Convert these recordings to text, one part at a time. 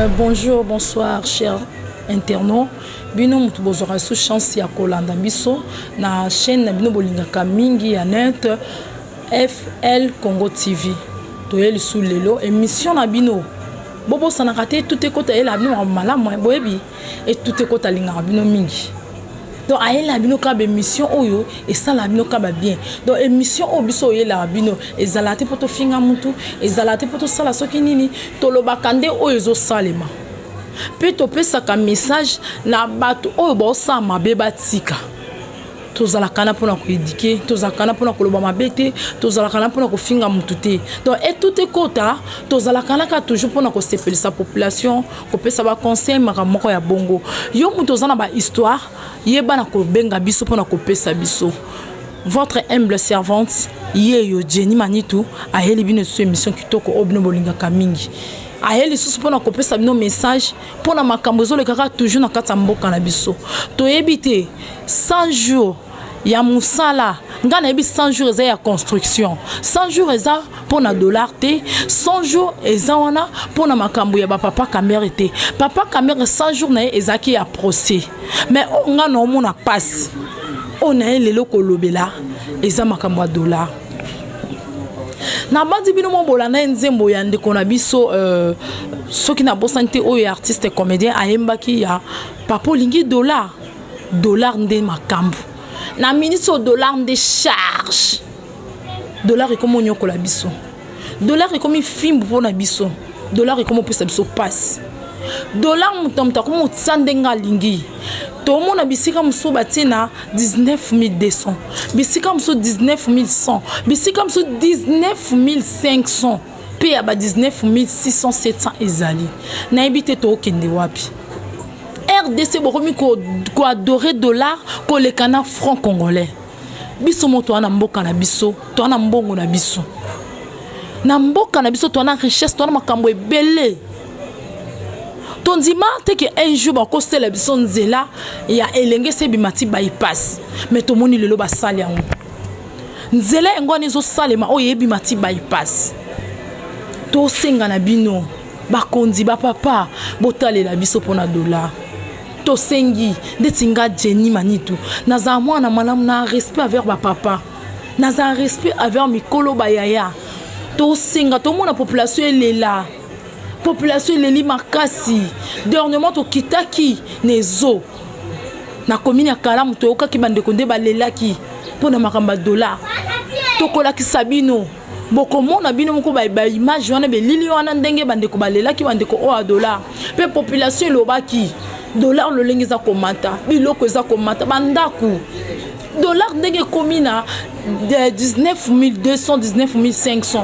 Euh, bonjour, bonsoir, cher internaut. bino moto bozwaka lisusu chance ya kolanda biso na chaîne na bino bolingaka mingi ya net fl congo tv toye lisusu lelo émission na bino bobosanaka te tout ekota yela bino makambo malamu boyebi Et tout ekota alingaka bino mingi. Donc ayela bino ka ba émission oyo esala bino ka ba bien. Donc émission oyo biso oyela bino ezala te poto finga mutu, ezala te poto sala soki nini, toloba kande oyo ezo salema. Pe to pesa ka message na batu oyo ba osala mabe ba tika. tozala kana pona ko éduquer, tozala kana pona ko loba mabe te, tozala kana pona ko finga mutu te. Donc et tout ekota, tozala kana ka toujours pona ko sepelisa population kopesa ba conseil makambo moko ya bongo yo moto oza na ba histoire yeba na kobenga biso mpo na kopesa biso votre humble servante yeyo Jenny Manitu ayeli bino lisusu émission kitoko oyo bino bolingaka mingi aye lisusu mpo na kopesa bino message mpo na makambo ezolekaka toujours na kati ya mboka na biso toyebi te 100 jours ya musala nga nayebi 100 jours eza ya construction 100 jours eza mpo na dollar te 100 jours eza wana mpo na makambo ya bapapa kamere te papa kamere 100 jours na ye ezalaki ya procès mais oyo oh, nga na omona mpasi oyo oh, na ye lelo kolobela eza makambo ya dollar nabandi bino mobola na ye nzembo ya ndeko na biso euh, soki nabosani te oyo ya artiste comédien ayembaki ya papa olingi dollar Dollar nde makambu. Na minute au dollar nde charge. Dollar ekomi onyokola biso. Dollar ekomi fimbu mpo na biso. Dollar ekomi opesa biso pasi. Dollar moto na moto akomi otisa ndenge alingi. tomona bisika mosusu batie na 19200 bisika mosusu 19100 bisika mosusu 19500 mpe ya ba 19600 ezali nayebi te tookende wapi rdc bokomi koadore dollar koleka na franc congolais biso mo toa na mboka na biso toa na mbongo na biso na mboka na biso toa na richesse toa na makambo ebele tondima te ke un jour bakosela biso nzela ya elenge se ebima ti bypass me tomoni lelo basali yango nzela yango wana ezosalema oyo ebima ti bypass tosenga na bino bakonzi bapapa botalela biso mpona dola tosengi ndeti nga jeni manitu nazala mwana malamu na respect aver bapapa nazala respect aver mikolo bayaya tosenga tomona population elela population eleli makasi dernièrement tokitaki na ezo na komini ya kalamu toyokaki bandeko nde balelaki mpo na makambo ya dola tokolakisa bino bokomona bino moko baimage wana belili wana ndenge bandeko balelaki bandeko oyo ya dola mpe population elobaki dola lolenge eza komata biloko eza komata bandako dola ndenge ekomi na 19 200 19 500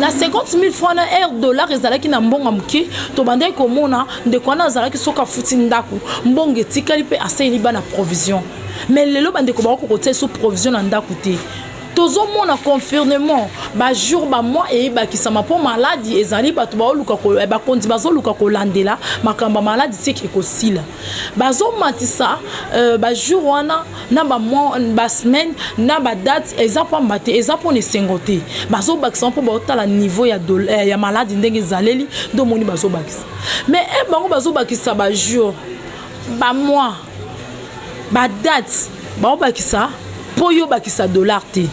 na 50000 francs na air dollar ezalaki na mbongo moke tobandaki komona ndeko wana azalaki soki afuti ndako mbongo etikali mpe asaleli bana provision me lelo bandeko bakoki kotia liso provision na ndako te tozomona confirmement bajour bamwa eyebakisama mpo maladi ezali bato baoluka eh, bakonzi bazoluka kolandela makambo ya maladi seke ekosila bazomatisa euh, bajour wana na ba mois ba semaine na ba date eza pamba te eza pona esengo te bazobakisa mpo baotala niveau ya, eh, ya maladi ndenge ezaleli nde omoni bazobakisa mais e eh, bango bazobakisa ba jour ba mois ba date baobakisa mpo yo obakisa dollar te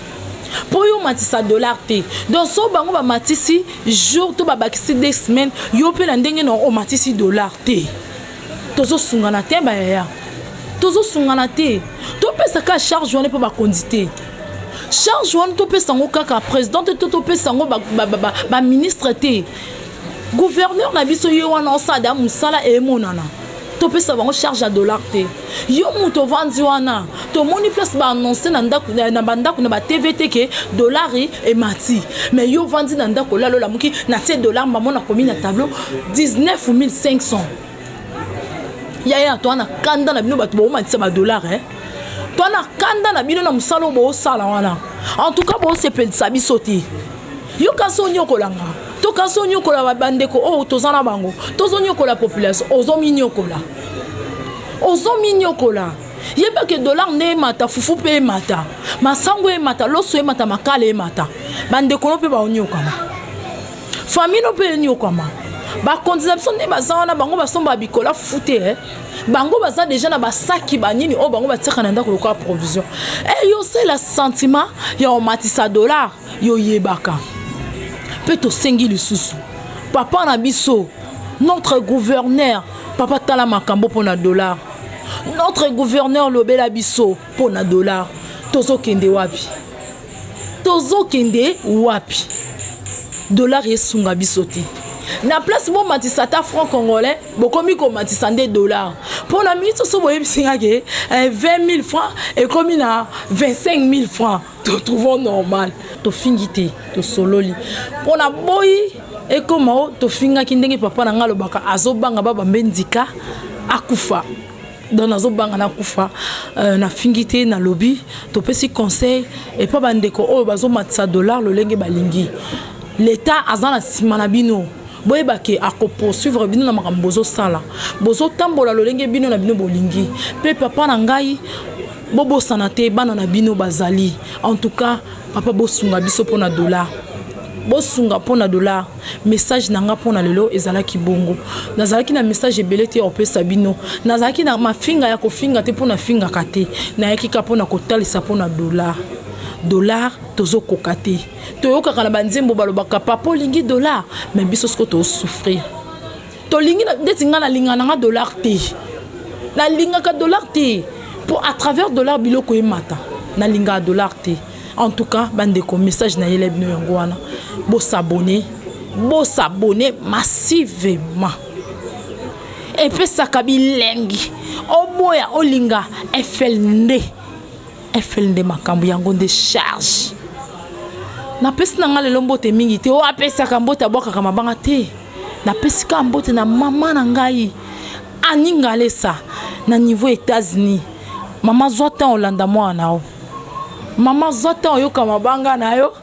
mpo yo omatisa dollar te donc so bango bamatisi jour to babakisi de semaine yo mpe na ndenge na omatisi dollar te Tozo sungana te ba yaya. Tozo sungana te. To pesa ka charge wana pe ba konzi te. Charge wana to pesa ngo kaka president te to pesa ngo ba ba ba, ba, ba ministre te. Gouverneur na biso ye wana osada musala emonana. To pesa bango charge ya dollar te. Yo mutu ovandi wana tomoni place ba annonce na ndaku na ba ndaku na ba TV te ke dollar emati mais yo ovandi na ndaku olalo la muki na tie dollar mbamo na komi na tableau 19500 yaya toi na kanda na bino bato baomatisa ba dollar eh toi na kanda na bino na mosala oyo boosala wana en tout cas boosepelisa biso te yo kasi onyokolanga to kasi onyokola bandeko oyo toza na bango tozonyokola population ozominyokola ozo minyokola yeba ke dollar nde emata fufu mpe emata masango emata loso emata makala emata bandeko no mpe baonyokama famille no mpe enyokama bakonzi na biso nde baza wana bango basombaka bikola fufu te eh? bango baza deja na basaki banini oyo bango batiaka na ndako lokola provision e eh, yo osala sentiment ya omatisa dollar yoyebaka mpe tosengi lisusu papa na biso notre gouverneur Papa tala makambo pona dollar. Notre gouverneur lobela biso pona dollar. Tozo kende wapi? Tozo kende wapi? Dollar esunga biso te. Na place bo matisa ata franc congolais, bokomi ko matisa nde dollar. Pona minute so boyebi singa ke 20000 eh, francs ekomi na 25000 francs. to trouvons normal tofingi te tosololi mpo na boyi ekoma o tofingaki ndenge papa na ngai alobaka azobanga babambe ndika akufa donc nazobanga nakufa euh, nafingi te nalobi topesi conseil epa bandeko oyo bazomatisa dollar lolenge balingi leta aza na nsima na bino boyeba ke akopoursuivre bino na makambo bozosala bozotambola lolenge bino na bino bolingi mpe papa na ngai Bobosana te bana na bino bazali. En tout cas papa bosunga biso pona dollar. Bosunga pona dollar. Message na nga pona lelo ezalaki bongo. Nazalaki na message ebele te opesa bino. Nazalaki na mafinga ya kofinga te pona fingaka te. Nayaki ka pona kotalisa pona dollar. Dollar tozo koka te. Toyokaka na ba nzembo balobaka papa olingi dollar mais biso siko to souffrir. tolingi ndeti ngai nalingaka na ngai dollar te nalingaka dollar te mpo à travers dollar biloko emata nalingaka dollar te en tout cas bandeko message nayela bino yango wana bosabone bosabone massivement epesaka bilengi oboya olinga efel nde efel nde makambo yango nde charge napesi na ngai lelo mbote mingi te oyo apesaka mbote abwakaka mabanga te napesi kaka mbote na mama na ngai ani ngalesa na niveau états-unis mama zwa ntango olanda mwana na yo mama zwa ntango oyoka mabanga na yo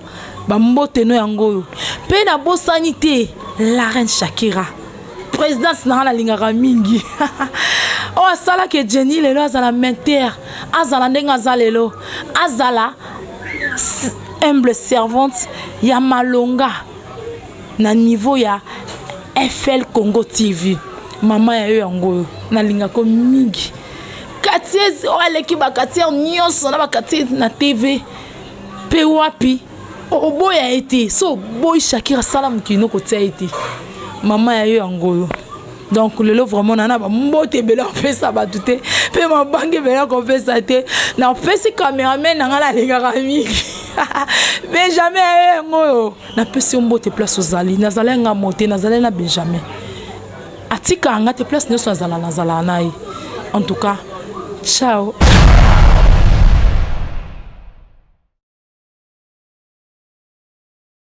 bambote no yango oyo mpe nabosani te la reine shakira présidence na ngai nalingaka mingi oyo asalaki ejeni lelo azala mentere azala ndenge aza lelo azala humble servante ya malonga na niveau ya FL Congo TV mama ya yo yango oyo nalingaka yo mingi quartier oyo aleki baquartier nyonso na baquartier na TV mpe wapi oboya ye te so oboyi shakira sala mokili nokotia ye te mama ya yo yango oyo donc lelo vraiment nana bambote ebele kopesa bato te mpe mabange ebele kopesa te napesi cameraman na ngai nalingaka mingi benjamin aye eh, yango oyo napesi yo mbote place ozali nazalai nga mote nazalai na benjamin atika nga te place nyonso azala nazalaka na ye en tout cas ciao